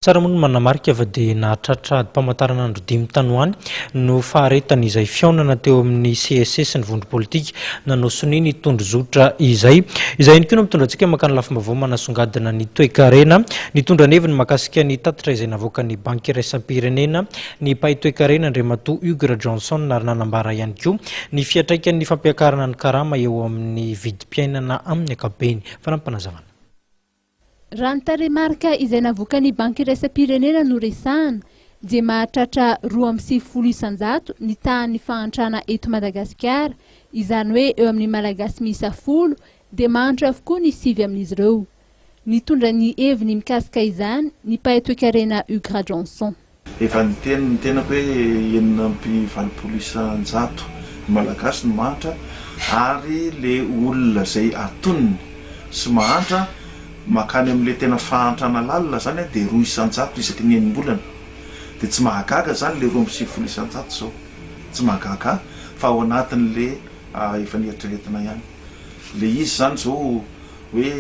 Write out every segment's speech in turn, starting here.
Tsara moa ny manamarika fa dia nahatratra adim-pamantaranandro dimy tany ho any no faharetan' izay fihaonana teo amin'ny CSC sy ny vondro politika nanao sonia ny tondrozotra izay. Izay ihany koa no mitondra antsika mankany lafim-baovao manasongadina ny toekarena. Nitondra ny heviny mahakasika ny tatitra izay navoakan'ny Banky iraisam-pirenena ny mpahay toekarena Andriamatoa Hugues Rajohnson ary nanambara ihany koa ny fiantraikan'ny fampiakarana ny karama eo amin'ny vidim-piainana amin'ny ankapobeny. Fanampim-panazavana. Raha ny tarehimarika izay navoakan'ny Banky iraisam-pirenena no resahana dia mahatratra roa amby sivifolo isan-jato ny tahan'ny fahantrana eto Madagasikara, izany hoe eo amin'ny Malagasy miisa folo dia mahantra avokoa ny sivy amin'izy ireo. Nitondra ny heviny mikasika izany ny mpahay toekarena Hugues Rajaonson. Efa niteny ny tenako hoe enina amby valopolo isan-jato ny Malagasy no mahantra ary le olona zay atonony sy mahantra makany amle tena fahantrana lalina zany de roa isan-jato isaky ny enim-bolana de tsy mahagaga zany le roa amby sivifolo isan-jato zao tsy mahagaga fa ao anatinle efa nieritreretina ihany le izy zany zao hoe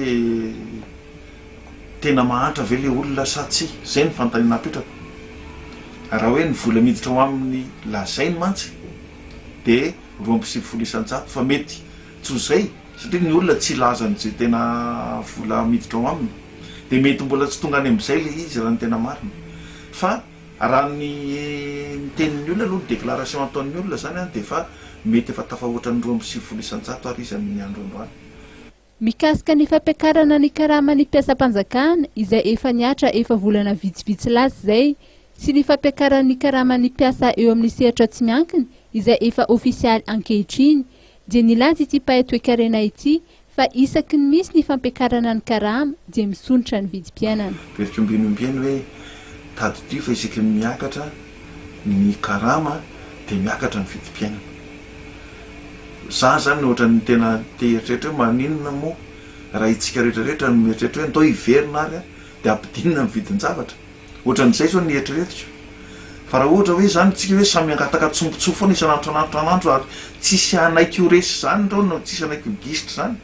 Tena mahantra ve le olona sa tsia? Zay ny fanontaniana apetrako. Raha hoe ny vola miditra ao aminy lazainy mantsy de roa amby sivifolo isan-jato fa mety tsy ho zay satria ny olona tsy hilaza ny ze tena vola miditra ao aminy de mety mbola tsy tonga any amizay le izy raha ny tena marina fa raha ny ny tenin'ny olona aloha ny déclaration ataon'ny olona zany an de efa mety efa tafahoatra ny roa amby sivifolo isan-jato ary izy amin'ny andro androany. Mikasika ny fampiakarana ny karaman'ny mpiasam-panjakana izay efa nihatra efa volana vitsivitsy lasa izay sy ny fampiakaran'ny karaman'ny mpiasa eo amin'ny sehatra tsy miankina izay efa ofisialy ankehitriny dia nilaza ity mpahay toekarena ity fa isaky ny misy ny fampiakarana ny karama dia misondrotra ny vidim-piainana. Very koa ombieny ombieny hoe tadidio fa isaky ny miakatra ny karama dia miakatra ny vidim-piainana. Za zany ohatran'ny tena te hieritreritra hoe maninona moa raha itsika rehetra rehetra no mieritreritra hoe ndao hiverina ary a dia ampidinina amin'ny vidin-javatra. Ohatran'izay zao ny eritreretiko. Fa raha ohatra hoe zany tsika hoe samy hangataka tsongontsoa foana isan'andro isan'andro isan'andro ary tsisy hanaiky ho resy zany ndao no tsisy hanaiky ho gisitra zany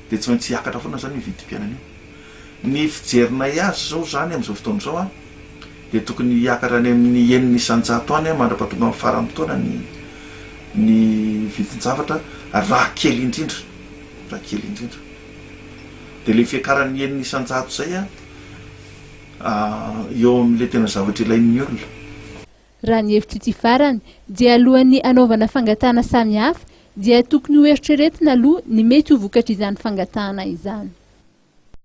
dia tsy maintsy hiakatra foana zany io vidim-piainana io. Ny fijerinay azy izao izany amin'izao fotoana izao an, dia tokony hiakatra any amin'ny enina isan-jato any mandra-pahatonga amin'ny faran'ny taona ny ny vidin-javatra raha kely indrindra, raha kely indrindra. Dia ilay fiakaran'ny enina isan-jato izay an, eo amin'ilay tena zavatra ilain'ny olona. Raha ny hevitro ity farany, dia alohan'ny hanaovana fangatahana samihafa, dia tokony hoeritreretina aloha ny mety ho vokatr'izany fangatahana izany.